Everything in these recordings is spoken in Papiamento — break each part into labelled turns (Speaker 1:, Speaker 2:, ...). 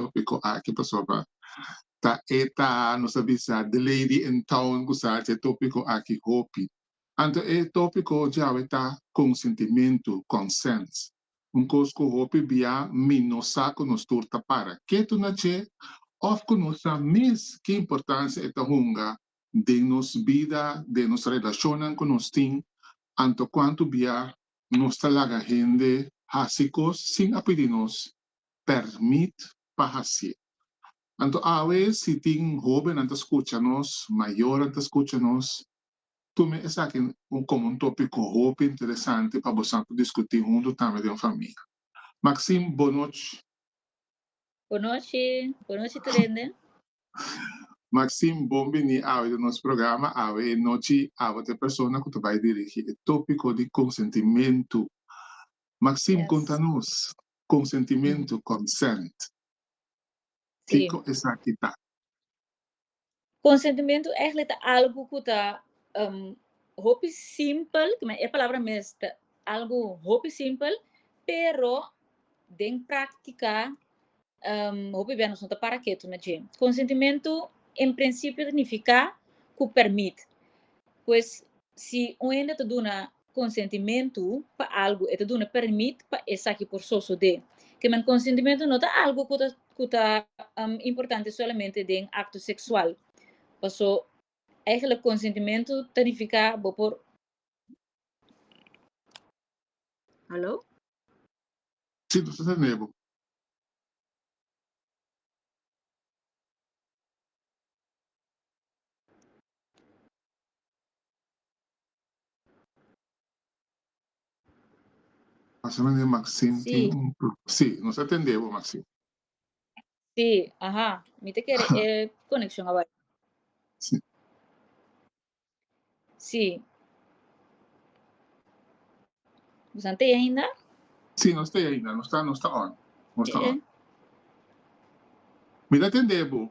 Speaker 1: tópiko aki pasobra ta e ta nos a bisa The Lady in Town ku sa dje tópiko aki hopi. Anto e tópiko djawe ta konsentimentu, consent, un kos ku hopi bia mi no sa ku nos tur ta para ketu na dje òf ku no sa mes ki importansia e ta hunga den nos bida, den nos relashonnan ku nos tin, anto kuantu bia nos ta laga hende hasi kos sin a pidi nos. permit pa hasi. Anto awe si tin hobennan ta skucha nos, mayornan ta skucha nos, tume esaki komo un topiko hopi interesante pa boso por diskutí huntu tambe den famia. Maxim, Bo nochi. Bo nochi. Bo nochi tur hende. Maxim, Bon biní awe den nos programa. Awe e nochi abo ta e persona ku ta bai dirigi e topiko di konsentimentu. Maxim, konta nos. Konsentimentu, consent, kiko esaki ta? Konsentimentu ègli ta algu ku ta hopi simpel, e palabra mes ta algu hopi simpel, pero den praktika hopi bes nos no ta para ketu na dje. Konsentimentu en prinsipio ta nifiká ku pèrmit. Pues si un hende ta duna Konsentimentu pa algu e ta duna pèrmit pa esaki por sosodé. Ke men konsentimentu no ta algu ku ta ku ta importante solamente den akto seksual. Paso, eigelik konsentimentu ta nifiká bo por. Hallo? Sí, nos ta tendé bo. Pasamento Maxim tin Sí. un pro- Sí, nos a tende bo Maxim. Sí, aha, mi ta kere e konekshon a bai. Sí. Sí. Busan tei ainda? Sí, nos te ainda, nos ta, nos ta on. Nos ta Eh, on. Mi ta tende bo.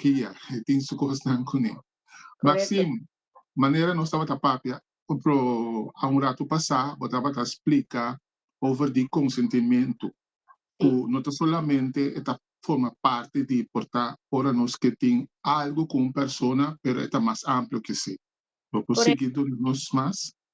Speaker 1: Kia, e tin su kosnan kuné. Maxim, Manera nos tabata papia pro a un ratu pasá, bo tabata splika over di konsentimentu, ku no ta solamente e ta forma parti di por ta ora nos ke tin algu ku un persona, pero e ta mas amplio ke esei. Bo por sigui duna nos mas?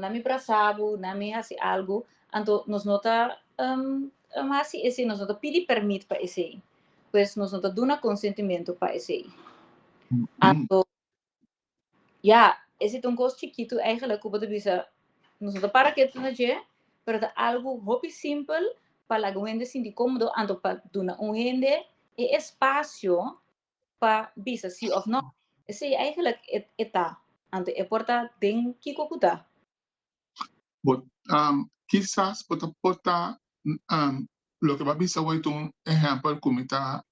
Speaker 1: na mi brasa bo, na mi hasi algu, anto nos no ta hasi esei, nos no ta pidi permit pa esei, pues nos no ta duna konsentimentu pa esei. Anto, ya, ese ta un kos chikitu eigenlijk ku bo ta bisa nos no ta para ketu na dje, pero ta algu hopi simpel pa laga un hende sinti komodo, anto pa duna un hende e espasio pa bisa si of no. Esei eigenlijk e ta. Anto e por ta den kiko ku ta. Bo ta kisas bo ta por ta loke bo a bisa awor e ta un ehèmpel ku mi ta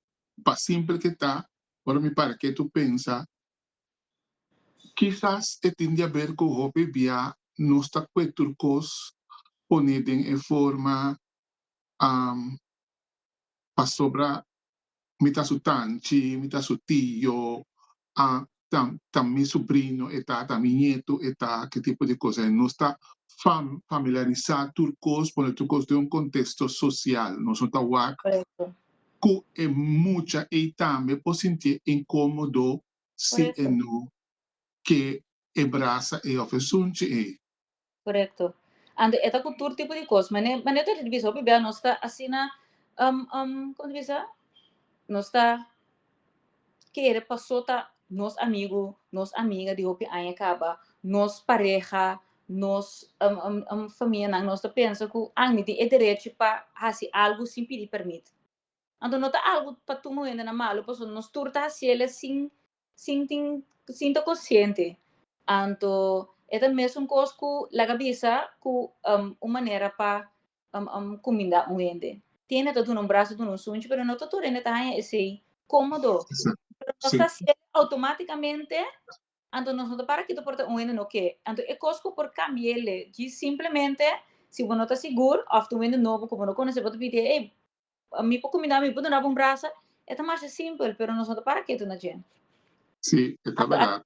Speaker 1: pa simpel ke ta ora mi para ke tu pensa kisas e tin di aber ku hopi bia nos ta kue tur kos pone den e forma pasobra Mi ta su tanchi, mi ta su tio, a, ta, ta mi subrino e ta, ta mi nietu e ta, ki tipo di kos ei. Nos ta fam, familiarisá tur kos, pone tur kos den un kontesto sosial. Nos no ta wak ku e mucha ei tambe por sintié inkómodo si e no ke e brasa ei òf e sunchi ei. Korekto. Anto e ta ku tur tipo di kos. Mane mane ta bisa hopi bia nos ta asina um um komo ta bisa nos ta kere paso ta nos amigu, nos amiga di hopi aña kaba, nos pareha, nos um um um famianan, nos ta pensa ku a mi tin e derechi pa hasi algu sin pidi permit. Anto no ta algu pa tur momentonan malu pasobra nos tur ta hasiel sin sintin sinta kosiente anto e ta mesun kos ku laga bisa ku un manera pa kuminda un hende tiene ta duna un braso duna un sunchi pero no ta tur hende ta haña esei komodo pero nos ta hasiel outomatikamente anto nos no ta para kito por ta un hende no ke anto e kos ku por kambiele djis simplemente si bo no ta sigur òf ta un hende nobo ku bo no konosé bo ta pidi ey Mi por cuminda mi por dunaba un brasa e ta masha simpel pero nos no ta para ketu na djent. Sí, e ta verdad.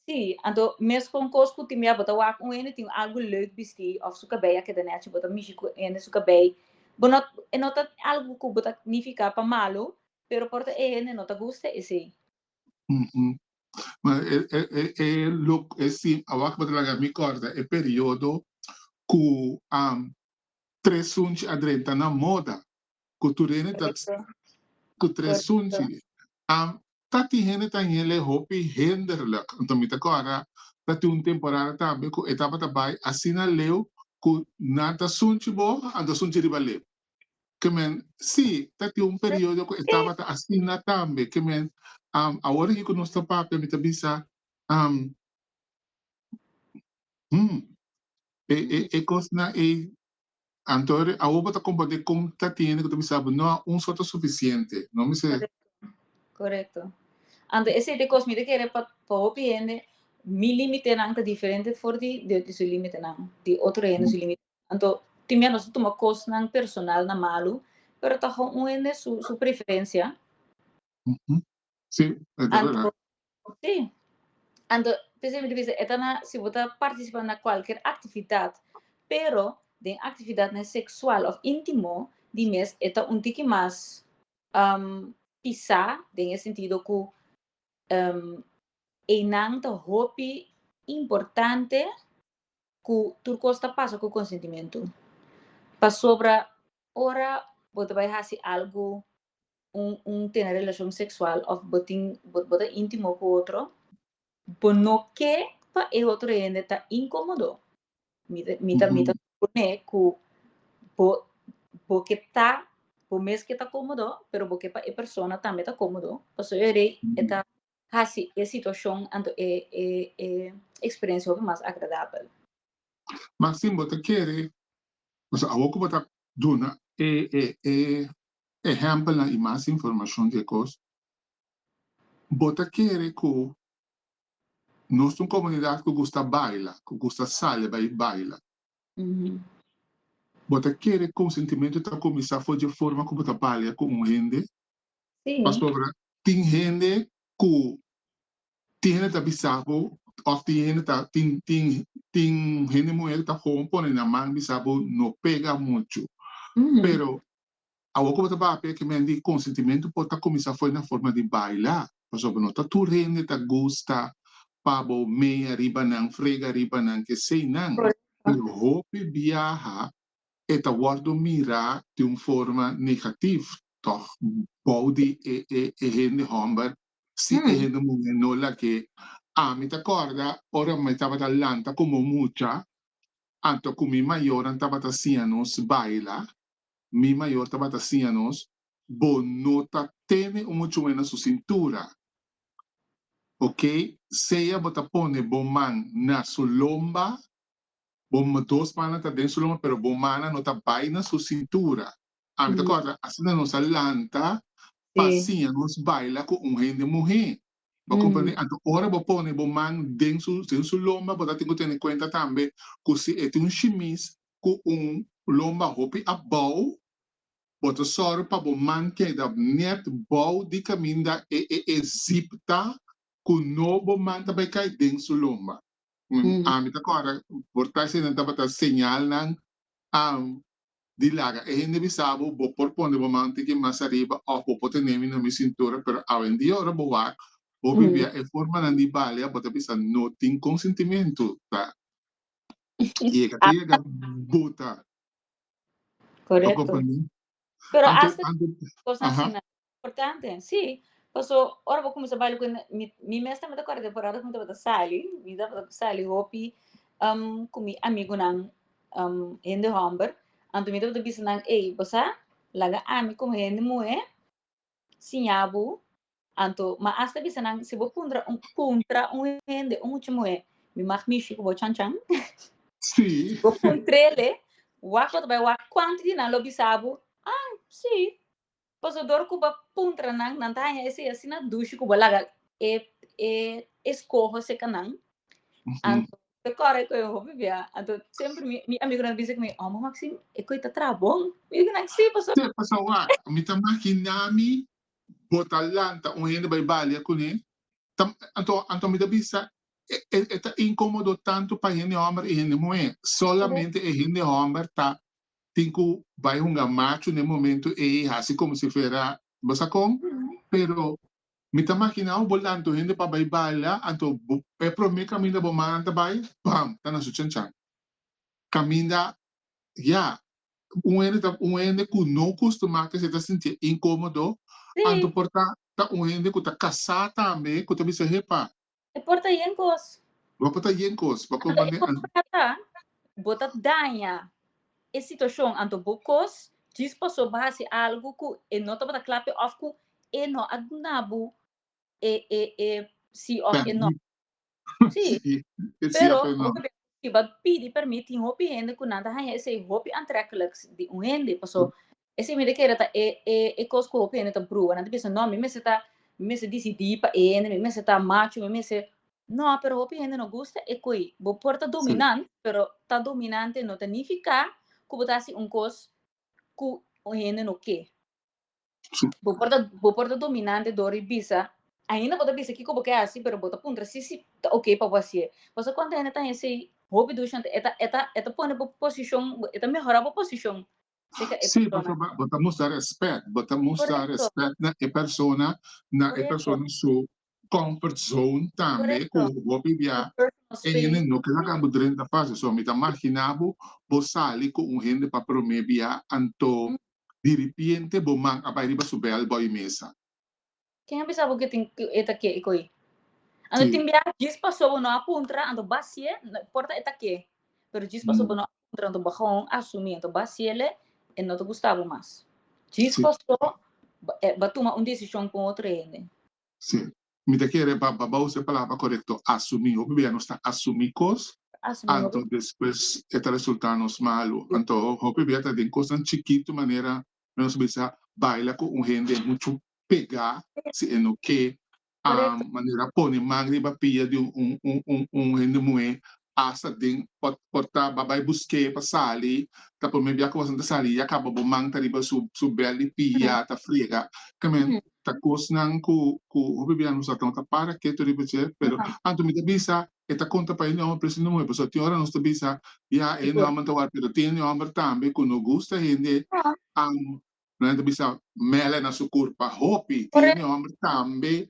Speaker 1: Sí, anto mes con cos cu tin bia bo ta wak un hende tin algo leuk bisti of su cabei a keda nechi bo ta mishi cu hende su cabei bo no e no ta algo cu bo ta nifica pa malo pero por ta e hende no ta gusta esey. Ma e e e e look e sim awak bo ta laga mi corda e periodo cu am Tres sunchi a drenta na moda ku tur hende ta ku tres sunchi a ta tin hende ta hele hopi hinderlijk anto mi ta kòrda ta tin un temporada tambe ku e tabata bai asina leu ku nan ta sunchi bo anto sunchi riba leu ke men si ta tin un periodo ku e tabata asina tambe ke men awor aki ku nos ta papia mi ta bisa Hm. E e e cosnan ey, anto re, awo bo ta comprende con ta tin hende cu ta bisa bo, no a un so ta suficiente, no mi se. Correcto. Anto esey ta e cos mi ta kere pa pa hopi hende, mi limitenan ta diferente for di di di su limitenan, di otro hende su limite. Anto tin mia nos ta tuma cosnan personal na malu, pero ta ho un hende su su preferencia. Sí, e ta Anto, verdad. sí. Anto, p'esei mi ta bisa, e ta na, si bo ta participa na cualkier actividad, pero den actividadnan sexual of intimo di mes, e ta un tiki mas um pisá den e sentido cu um einan ta hopi importante cu tur cos ta pasa cu consentimentu. Pasobra ora bo ta bai haci algu un tene relacion sexual of bo tin bo ta intimo cu otro bo no ke pa e otro hende ta incomodo mi ta mi ta mi ta supone cu bo bo ke ta bo mes ke ta comodo pero bo ke pa e persona tambe ta comodo pasobra e rei e ta haci e situacion anto e e e experiencia hopi mas agradabel. Ma sin bo ta kere o sea awo cu bo ta duna e e e ehèmpelnan i mas informashon di e kos, bo ta kere ku nos ta un komunidat ku gusta baila, ku gusta sali bai baila. Bo ta kere ku sentimentu ta kuminsá for dje forma ku bo ta balia ku un hende? Pasobra tin hende ku tin hende ta bisa bo òf tin hende ta tin tin tin hende muhé ku ta houn pone nan man bisa bo no pega muchu. Pero Awor ku bo ta papia e kemen di konsentimentu por ta kuminsá fo'i na forma di baila, pasobra no ta tur hende ta gusta pa bo mea riba nan, frega riba nan, kesei nan. Pero hopi biaha e ta wòrdu mirá di un forma negativ tòg bou di e e e hende hòmber, si e hende muhé no lag'é. Ami ta kòrda ora mi tabata lanta komo mucha, anto ku mi mayonan tabata siña nos baila, Mi mayor tabata siña nos, Bo no ta tene un muchuel na su sintura. Ok, sea bo ta pone bo man na su lomba, bo dos mannan ta den su lomba, pero bo mannan no ta bai na su sintura. Ami ta corda, asina nos a lanta pa siña nos baila cu un hende muhe. Bo comprende? Anto, ora bo pone bo man den su lomba, bo ta tin cu tene cuenta tambe cu si e tin un shimis, ku un lomba hopi abou, bo ta sòru pa bo man keda nèt bou di kaminda e e e zip ta ku no bo man ta bai kai den su lomba. Ami ta kòrda por ta eseinan tabata señalnan di laga. E hende bisa bo, bo por pone bo man un tiki mas ariba òf bo por tene mi na mi sintura, pero awendia ora bo wak, bo bibia e formanan di balia, bo ta bisa no tin konsentimentu ta y e ka tin yega bota pa komplemento. Pero hasta cos asina importante, si, paso ora bo cuminsa baila cu e, mi mes tambe ta acorda por ora cu mi tabata sali, mi tabata sali hopi cu mi amigunan hende homber, anto mi tabata bisa nan, ey bo sa, laga ami como hende muher siña bo, anto mi a hasta bisa nan si bo puntra un puntra un hende, un mucha muhé, mi mag mishi ku bo chan chan, Sí. bo puntrele, wak bo ta bai wak kuantu di nan lo bisa bo, ah, sí, pasador ku bo puntra nan, nan ta haña esei asina dushi ku bo laga e e eskoho seka nan, anto ta corre cu e hopi bia. Anto siempre mi, mi amigo na dice mi, oh ma Maxine, e coi ta tra bon. Mi dice na si paso. Te pasa wa, mi ta maginami bo ta lanta un hende bay balia cune. Ta, anto, anto mi ta bisa e, e, e ta incomodo tanto pa hende homber y hende muhe. Solamente e hende homber ta tin cu bay hunga macho n'e momento ey, haci como si fera, bo sa con? Pero Mi ta makina bo lanto hende pa bai baila, anto bo e prome kaminda bo manan ta bai, bam, ta na su chanchan. Kaminda, ya, un hende ta un hende ku no kustumá kese ta sintié inkómodo, anto por ta ta un hende ku ta kasá tambe ku ta bisa, Hepa, E por ta yen kos. Bo por ta yen kos. Anto e por trata bo ta daña e situashon anto bo kos djis paso bo hasi algu ku e no tabata kla p'e òf ku e no a duna bo e e e si òf e no. Sí, pero bo ta bira si bo a pidi pèrmit tin hopi hende ku nan ta haña esei hopi antrèkliks di un hende paso Esei mi ta kere ta e e e kos ku hopi hende ta bruha. Nan ta bisa, No, mi mester ta, mi mester disidí pa e hende, mi mester ta machu, mi mester. No, pero hopi hende no gusta e ko'i. Bo por ta dominant, pero ta dominante no ta nifiká ku bo ta hasi un kos ku un hende no ke. Bo por ta, bo por ta dominante dor di bisa, ainda bo ta bisa kiko bo ke hasi, pero bo ta puntra si si ta oke pa bo hasi'e. Bo sa konta hende ta hesei? Hopi dushanta e ta, e ta, e ta pone bo posishon, e ta mehorá bo posishon. Sí, porque bo ta musta respet, bo ta musta respet na e persona, na e persona su comfort zone tambe cu bo a bibia, e hende no ke laga bo drenta fácil, so mi ta magina bo bo sali cu un hende pa prome bia anto diripiente bo man a bai riba su bel bo a yu mesa. Ken a bisa bo ke tin e ta ke e koi? Anto tin bia djis paso bo no a puntra anto basié no importa e ta ke pero djis paso bo no a puntra anto bo gawon asumí anto basiele e no ta gusta bo mas djis paso bo a tuma un desishon ku un otro hende. Si mi ta kere pa ba usa e palabra korekto asumí hopi bia nos ta asumí kos anto despues e ta resulta nos malu anto hopi bia ta den kosnan chikitu manera Nos bisa a baila cu un hende mucho pega si e no ke. Correcto. Manera pone man riba pia di un hende muhe hasta den por ta ba bay buske pa sali ta prome bia cu asina ta sali y ya caba bo man ta riba su bel di pia ta frega ta men ta cosnan cu hopi bia nos a tuma ta para keto riba dje pero anto mi ta bisa E ta konta pa ene hòmber prese nuevo, so tin ora nos ta bisa, ya, ene hòmber ta wòrdu, pero tin ene hòmber tambe ku no gusta hende an nan ta bisa mèlè na su kurp. Pa hopi tin ene hòmber tambe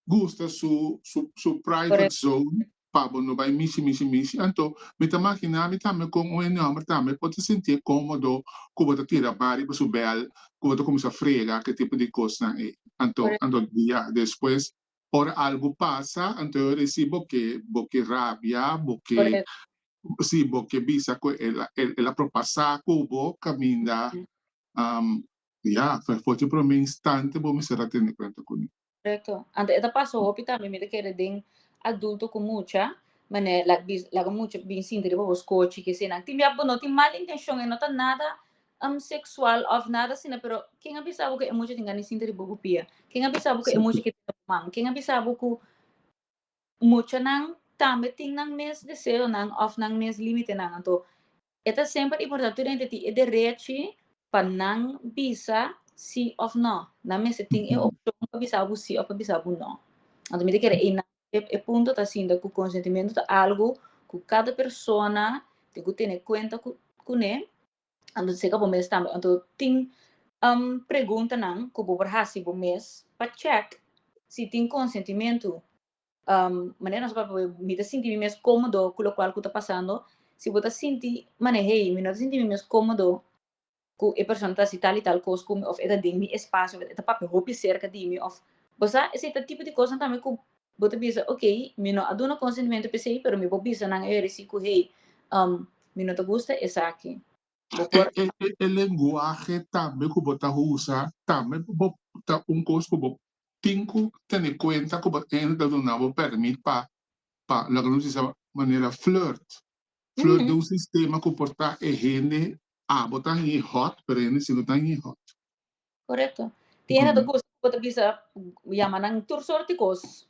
Speaker 1: gusta su su su private zone pa bo no bai mishi mishi mishi. Anto mi ta makiná mi tambe kon un ene hòmber tambe por ta sintié kómodo ku bo ta tira bari pa su bèl, ku bo ta kuminsá frega, ke tipo di kosnan ei. Anto anto dia despues Ora algu pasa, anto yo resi bo ke bo ke rabia, bo ke si bo ke bisa ku el a el a propasa ku bo kaminda ya fo fo te prome instante bo mester a tene kuenta kuné. Korekto. Anto e ta pasa hopi tambe mi ta kere den adulto ku mucha manera e laga laga mucha bin sinti riba bo skochi ke esei nan tin biak bo no tin mal intenshon e no ta nada um sexual of nada asina pero ken a bisa bo ku e mucha tin gana sinti riba bo pia ken a bisa bo ku e mucha keda riba bo man ken a bisa bo ku muchanan tambe tin nan mes deseonan of nan mes limitenan anto e ta semper importante tur hende tin e derechi pa nan bisa si of no nan mester tin e opcion pa bisa bo si of pa bisa bo no anto mi ta kere ei nan e punto ta sinta ku konsentimentu ta algu ku kada persona tin ku tene kuenta ku kune. Anto di seka bo mes tambe. Anto tin un preguntanan ku bo por hasi bo mes pa chèk si tin konsentimentu, manera nos a papia bo, mi ta sinti mi mes komodo ku lokual ku ta pasando? Si bo ta sinti, manera hei, mi no ta sinti mi mes komodo ku e persona ta hasi tal i tal kos ku mi, òf e ta den mi espasio, òf e ta papia hopi serka di mi, òf. Bo sa esei ta tipo di kosnan tambe ku Bo ta bisa, Ok, mi no a duna konsentimentu p'esei, pero mi por bisa nan ei risi ku, Hei, um mi no ta gusta esaki. Bo por. E lenguahe tambe ku bo ta usa tambe bo ta un kos ku bo tin ku tene kuenta ku bo ain ta duna bo pèrmit pa pa loke nos disa manera flirt. Flirt ta un sistema ku por ta e hende abo ta hini hot pero e hende si no ta hini hot. Correcto. Tiene ta cos cu bo ta bisa yama nan tur sort di cos.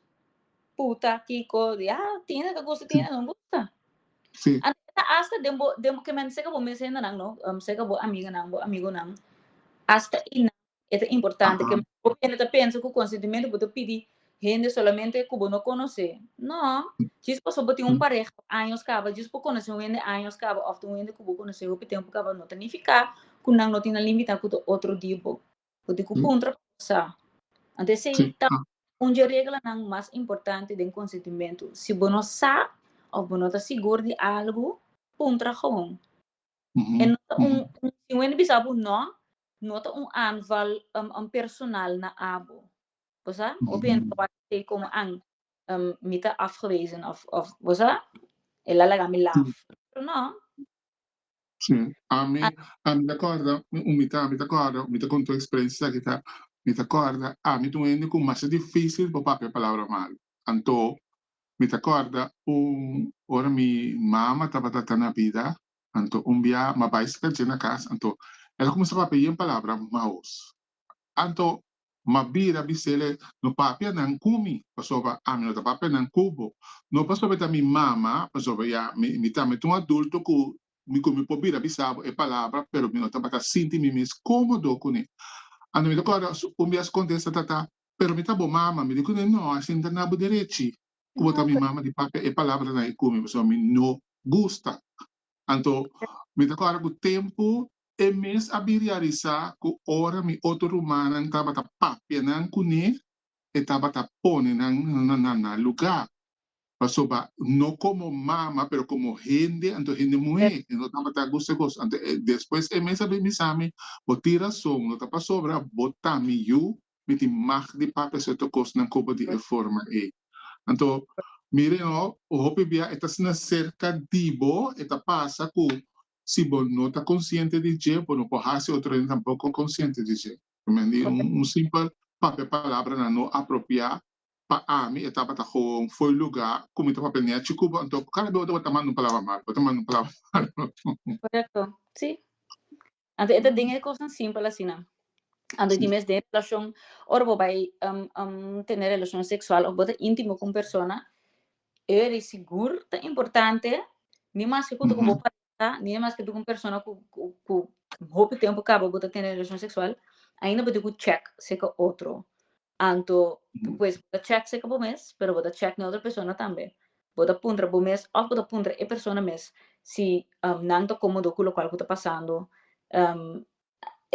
Speaker 1: Puta, kico, di a tiene ta gusta, tiene no gusta. Sí. Anto e ta hasta den bo, den bo ke men seka bo mesendanan no, em, seka bo amiganan, bo amigunan, hasta einan e ta importante ke bo mene ta pensa ku konsentimento bo ta pidi Hende solamente ku bo no konosé. No. Djis paso bo tin un pareha por años kaba, djis bo konosé un hende años kaba òf tin un hende ku bo konosé hopi tempu kaba no ta nifiká ku nan no tin nan limitá ku ta otro di bo. Bo tin ku puntra pa bo sa. Anto esei ta un dje reglanan mas importante den konsentimentu. Si bo no sa òf bo no ta sigur di algu, puntra gewoon. E no ta un, si un hende bisa bo no, no ta un aanval personal na abo. bo sa? Hopi hende ta wak esei komo an mi ta afgewezen of of bo sa? E la laga mi laf. Pero no. Sí. Ami ami ta kòrda un umita ami ta kòrda mi ta konta un eksperensia esaki ta mi ta kòrda ami ta un hende ku masha difísil pa papia palabra malu. Anto mi ta kòrda un ora mi mama tabata ta na bida anto un bia mi a bai sakache na kas anto el a kuminsá papia yen palabra maus. Anto Ma bira a bisele, No papia nan ku mi, pasobra ami no ta papia nan ku bo. No pasobra e ta mi mama, pasobra ya mi tambe ta un adulto ku mi ku mi por bira bisa bo e palabra, pero mi no tabata sinti mi mes komodo kuné. Anto mi ta kòrda un bias kontesta tata, Pero mi ta bo mama. Mi di kuné, No, asina ta na bo derechi, ku bo ta mi mama di papia e palabranan ei ku mi, pasobra mi no gusta. Anto mi ta kòrda ku tempu E mes a bin realisá ku ora mi otro rumannan tabata papia nan kuné, e tabata pone nan na nan lugá. Pasobra no komo mama, pero komo hende, anto hende muhé, e no tabata gusta kos. Anto despues e mes a bin bisa mi, Bo tin rason, no ta pasobra bo ta mi yu, mi tin mag di papia serto kosnan koba di e forma ei. Anto, mire no, hopi bia e ta asina serka di bo, e ta pasa ku si bo no ta konsiente di dje bo no por hasi otronan tampoko konsiente di dje. Primer di un simpel papia palabranan no apropiá pa ami e tabata gewoon foi lugá ku mi ta papia neá chi ku bo anto kada bes bo tabata manda un palabra mal bo ta manda un palabra mal. Korekto si anto e ta den e kosnan simpel asina anto di mes den relashon ora bo bai tene relashon seksual òf bo ta íntimo ku un persona E di sigur ta importante, ni maske ku ta ku bo pareha, ni maske ta ku un persona ku ku hopi tempu kaba bo ta tene relashon seksual, ainda bo tin ku chèk se ka otro. Anto pues bo ta chèk se ka bo mes, pero bo ta chèk na otro persona tambe. Bo ta puntra bo mes òf bo ta puntra e persona mes si nan ta komodo ku lokual ku ta pasando.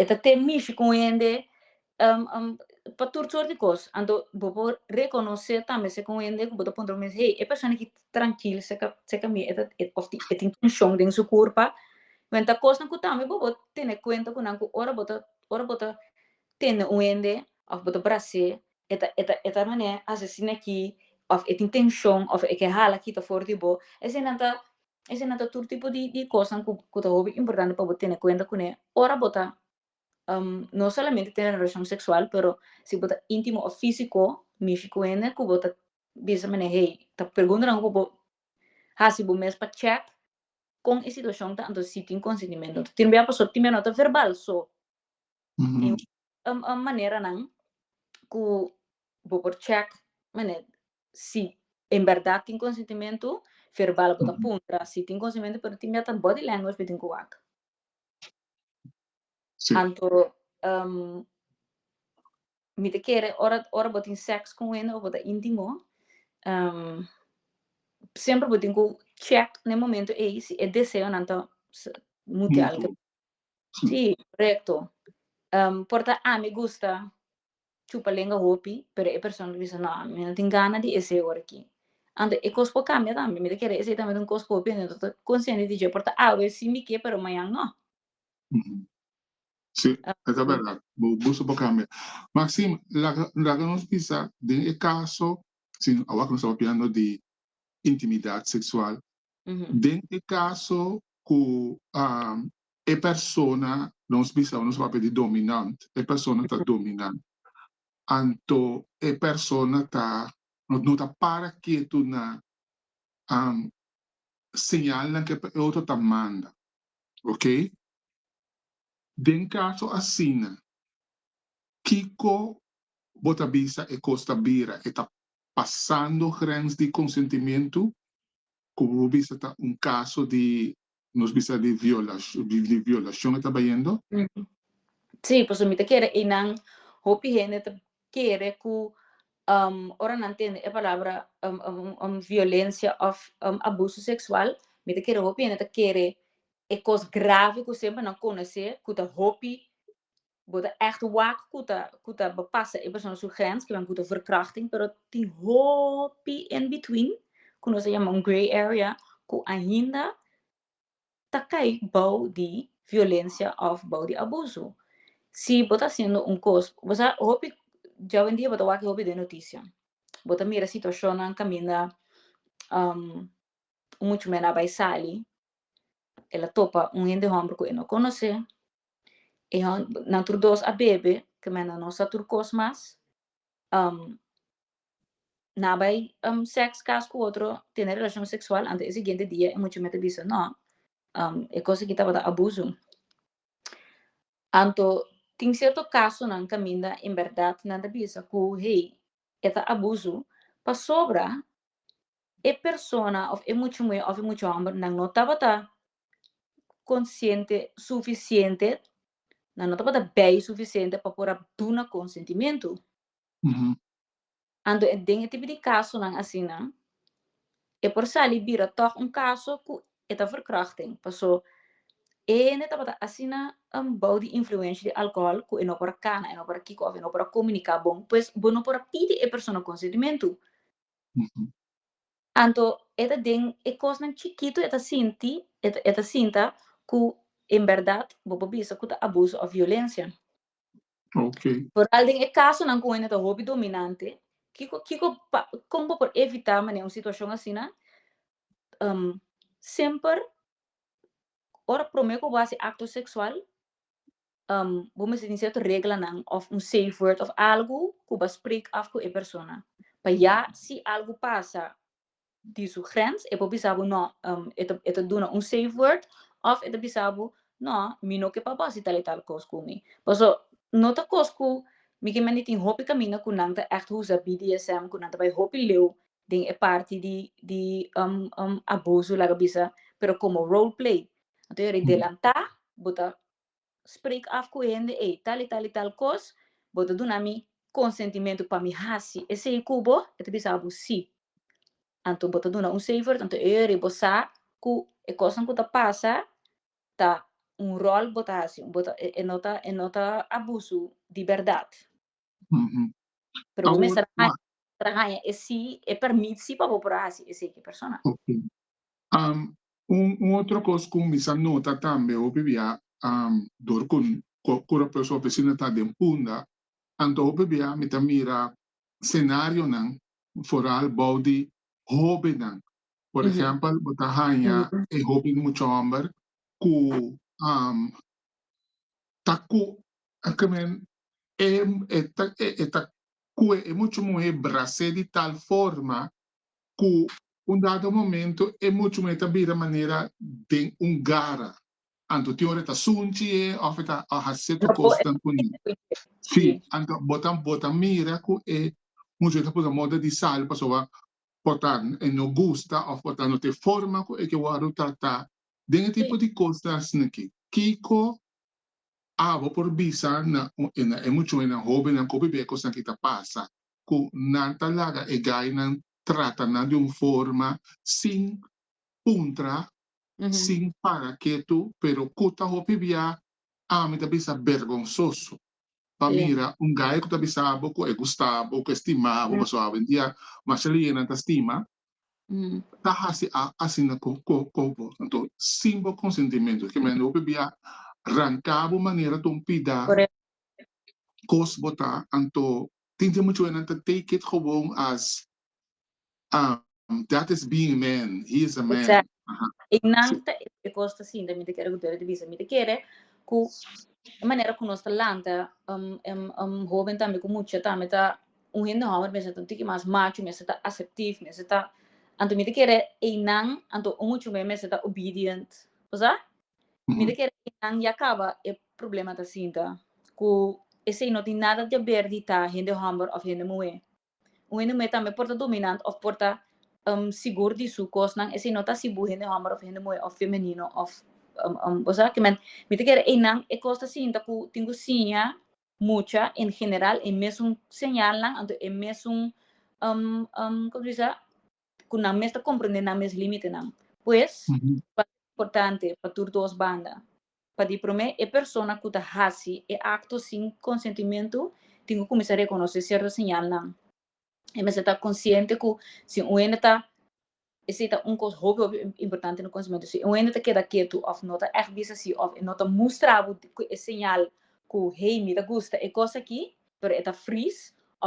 Speaker 1: e ta ten mishi con hende pa tur soort di cos, anto bo por reconoce tambe si con hende cu bo ta puntra bo mes hey e persona aki ta trankil se camina e ta of tin e tin tension den su curpa, bueno ta cosnan cu tambe bo por tene cuenta cu nan cu ora bo ta ora bo ta tende un hende of bo ta brace e ta e ta e ta mane asesina aki of e tin tension of e ke hala kita for di bo esei nan ta Esena ta tur tipo di di kosnan ku ku ta hopi importante pa bo tene kuenta kuné ora bo ta no solamente tene relashon seksual pero si bo ta intimo òf físiko mishi ku hende ku bo ta bisa manera hey ta preguntanan ku bo hasi bo mes pa chèk kon e situashon ta anto si tin konsentimentu anto tin bia pasó tin bia no ta verbal so maneranan ku bo por chèk manera si en berdad tin consentimentu verbal bo ta puntra si tin consentimentu pero tin biaha ta body language bo tin cu wak anto mi ta kere ora ora bo tin sex con wende of bo ta intimo semper bo tin cu check na e momento ey si e deseonan ta mutual si corecto por ta ami gusta chupa lenga hopi, pero e persona ta bisa, No, mi no tin gana di esei ora aki. Anto, e kos por kambia tambe. Mi ta kere esei tambe ta un kos hopi, anto mi ta konsiente di dje por ta awe sin di ke, pero mañan no. Sí, e ta bèrdat. Bo gusto por kambia. Maxim, laga laga nos bisa den e kaso, sin awaw ku nos ta papiando di intimidat seksual, den e kaso ku E persona, nos bisa nos papia di dominant, e persona ta dominant. Anto e persona ta, no ta para ketu na señalnan ke e otro ta manda. Ok? Den kaso asina, kiko bo ta bisa e kos ta bira? E ta pasando grens di konsentimentu, ku bo bisa ta un kaso di Nos bisa di di violashon e ta bayendo? Sí, pasobra mi ta kere einan hopi hende ta kere ku ora nan tende e palabra violensia òf abuso seksual mi ta kere hopi hende ta kere e kos grave ku semper nan konosé ku ta hopi bo ta echt wak cu ta cu ta bo pasa e persona su grens kiba nan cu ta verkrachting pero tin hopi in between cu nos ta yama un grey area cu ainda ta cay bao di violencia of bao di abuso si bo ta haciendo un cos bo sa hopi djawendia bo ta wak hopi den noticia bo ta mira situacionnan caminda un muchamen a bay sali el a topa un hende homber cu e no conoce E hòn, nan tur dos a bebe, kemèna nos sa tur kos mas. Um, na bai um, sèks kas ku otro, tene relashon seksual, ante e siguiente dia e muchanan ta bisa, nò, um, e kos aki tabata abuso. Anto, tin sierto kasonan kaminda en bèrdat nan ta bisa ku, hey, e ta abuso, pasobra e persona òf e mucha muhé òf e mucha hòmber nan no tabata konsiente sufisiente, nan no tabata bei sufisiente pa por a duna konsentimentu. Ujú. Anto e den e tipo di kasonan asina, e por sali bira tòg un kaso ku e ta verkrachting, paso e hende tabata asina enbou di influensha di alkohòl ku e no por a kana, e no por a kiko òf e no por a komuniká bon, pues bo no por a pidi e persona konsentimentu. Anto e ta den e kosnan chikitu e ta sinti, e ta sinta ku en bèrdat bo por bisa ku ta abuso òf violensia. Foral den e kasonan ku hende ta hopi dominante, kiko kiko kon bo por evitá manera un situashon asina? Semper ora promé ku bo a hasi akto seksual, Bo mester tin cierto reglanan of un safe word of algo cu bo a spreek af cu e persona. Pa ya si algo pasa di su grens e por bisa bo no e ta duna un safe word of e ta bisa bo no mi no ke pa bo hasi tal y tal cos cu mi. Paso no ta cos cu mi ke mende tin hopi caminda cu nan ta echt usa BDSM cu nan ta bay hopi leu den e parti di di abuso laga bisa pero como role play. Anto yo redelanta bo ta spreek af ku e hende ei, tal i tal i tal kos, bo ta duna mi konsentimentu pa mi hasi esei ku bo? E ta bisa bo si. Anto bo ta duna un seifer, anto e ora ei bo sa ku e kosnan ku ta pasa ta un ròl ku bo ta hasi, bo ta e no ta e no ta abusu di bèrdat. Pero bo mester a haña, mester a haña e sí, e permit sí pa bo por a hasi eseki persona. Ok. Um, un, un otro cos cu mi sa nota tambe, hopi bia, um, dor cu, cu, cu Rob Flores Oficina ta den Punda, anto hopi bia mi ta mira scenarionan, vooral bou di hobennan. Por ehempel, bo ta haña e hopi muchomber cu, um, ta cu, ke men, e e ta e ta kue e muchu muhé brasé di tal forma ku un dado momento e muchu muhé ta bira manera den un gara. Anto tin ora e ta sunchi e òf e ta a hasi tu kosnan kuné. Sí, anto bo ta bo ta mira ku e muchu muhé ta puta moda di sal pasobra por ta e no gusta òf por ta no ta e forma ku e ke wòrdu tratá. Den e tipo di kosnan asina ke kiko Abo por bisa na na e muchuenan hobennan ku bebé kosnan ki ta pasa ku nan ta laga e gainan trata nan di un forma sin puntra, sin para ketu, pero ku ta hopi bia ami ta bisa bergonsoso pa mira un gai ku ta bisa bo ku e gusta bo, ku e stima bo, pasobra awendia masha liennan ta stima, ta hasi asina ku bo. Anto sin bo konsentimento ke men hopi bia ranka bo manera ton pida kos bo ta anto tin tin muchu wenan ta take it gewoon as dat is being man he is a man i nan ta e kos ta sinti mi ta kere ku Dios ta bisa mi ta kere ku e manera ku nos ta lanta hoben tambe ku mucha tambe ta Un hende hòmber mester ta un tiki mas machu, mester ta aseptif, mester ta, anto mi ta kere einan, anto un muchu me mester ta obedient. Bo sa? Mi ta kere einan ya kaba e problema ta sinta ku esei no tin nada di aber di ta hende hòmber òf hende muhé. Un hende muhé tambe por ta dominant òf por ta sigur di su kosnan, esei no ta si bo hende hòmber òf hende muhé òf femenino òf, bo sa? Mi ta kere einan e kos ta sinta ku tin ku siña. Mucha en general e mesun señalnan anto e mesun como se dice cu nan mes ta comprende nan mes limitenan. Pues pa importante pa tur dos banda pa di prome e persona cu ta haci e acto sin consentimentu tin cu cuminsa reconoce cierto señalnan. e mester ta consciente cu si un hende ta, esey ta un cos hopi hopi importante na conocimento, si un hende ta keda ketu of no ta echt bisa si of e no ta mustra bo cu e señal cu hey mi ta gusta e cos aki pero e ta freeze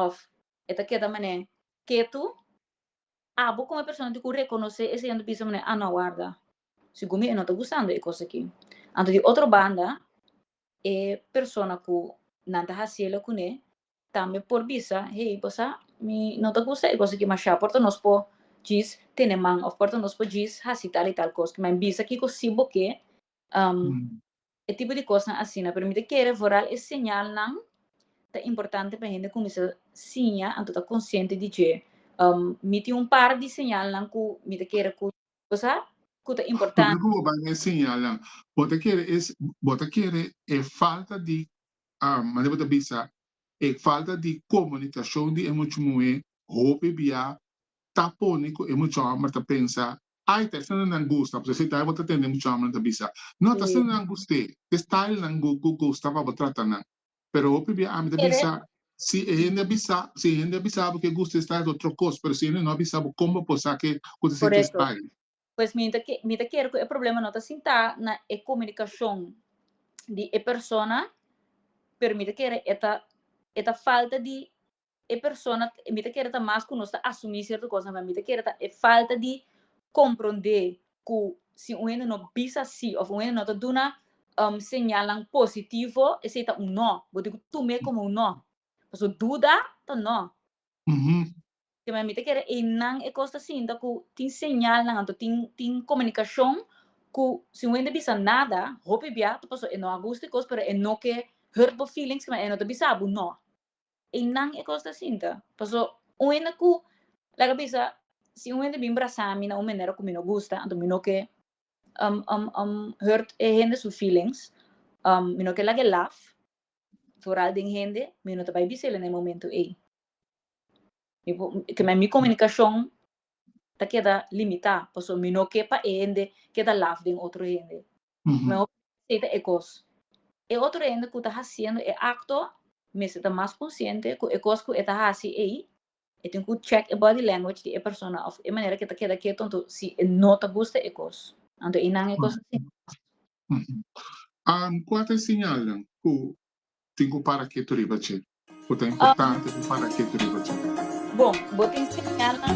Speaker 1: of e ta keda mane ketu, abo como persona tin cu reconoce esey unda bisa mane ah no warda segun mi e no ta gustando e cos aki, anto di otro banda e persona cu nan ta haciela cune Tambe por bisa, Hey, bo sa, mi no ta gusta e kos aki mashá, por ta nos por djis tene man òf por ta nos por djis hasi tal i tal kos. Kima e bisa kiko sí bo ke, e tipo di kosnan asina. Pero mi ta kere vooral e señalnan ta importante pa hende kuminsá siña anto ta konsiente di dje. Mi tin un par di señalnan ku mi ta kere ku bo sa ku ta importante. Kiko bo ta ban e señalnan? Bo ta kere e falta di manera bo ta bisa, e falta di komunikashon di e much muhé hopi biá ta pone ku e much hòmber ta pensa, Ai, ta esnan nan gusta, pasobra si ta ai bo ta tende e much hòmbernan ta bisa. No, ta esnan nan gust'é, ta e style nan bo bo gusta pa bo trata nan. Pero hopi biá ami ta bisa, si e hende a bisa, si e hende a bisa bo ke gusta e style ta otro kos, pero si e hende no a bisa bo kon bo por sa ke ku ta ser ki e style? pues mi ta mi ta kere ku e problema no ta sintá na e komunikashon di e persona pero mi ta kere e ta e ta falta di e persona mi ta kere ta mas ku nos ta asumí sierto kosnan mi ta kere ta e falta di komprondé ku si un hende no bisa sí òf un hende no ta duna señalnan positivo esei ta un no bo debe tum'é komo un no pasobra duda ta no. Te mami ta kere einan e kos ta sinta ku tin señalnan anto tin tin komunikashon ku si un hende bisa nada hopi bia ta pasó e no a gusta e kos pero e no ke hurt bo feelings kman e no ta bisa bo no. Einan e kos ta sinta pasó un hende ku laga bisa si un hende bin brasa mi na un manera ku mi no gusta anto mi no ke um um um hurt e hende su feelings um mi no ke laga e laf foral den hende mi no ta bai bisa el na e momento ei. mi comunicacion ta keda limita, pasobra mi no ke pa e hende keda laf den otro hende. Mehor mi aceita e cos. E otro hende cu ta haciendo e acto mester ta mas consciente cu e cos cu e ta haci ei, e tin cu check e body language di e persona of e manera cu e ta keda ketu anto si e no ta gusta e cos. Anto einan e cos ta sinti mas Kua ta e siñalnan ku tin ku para ketu riba dje? Ku ta importante pa para ketu riba dje? Bon, bo tin siñalnan.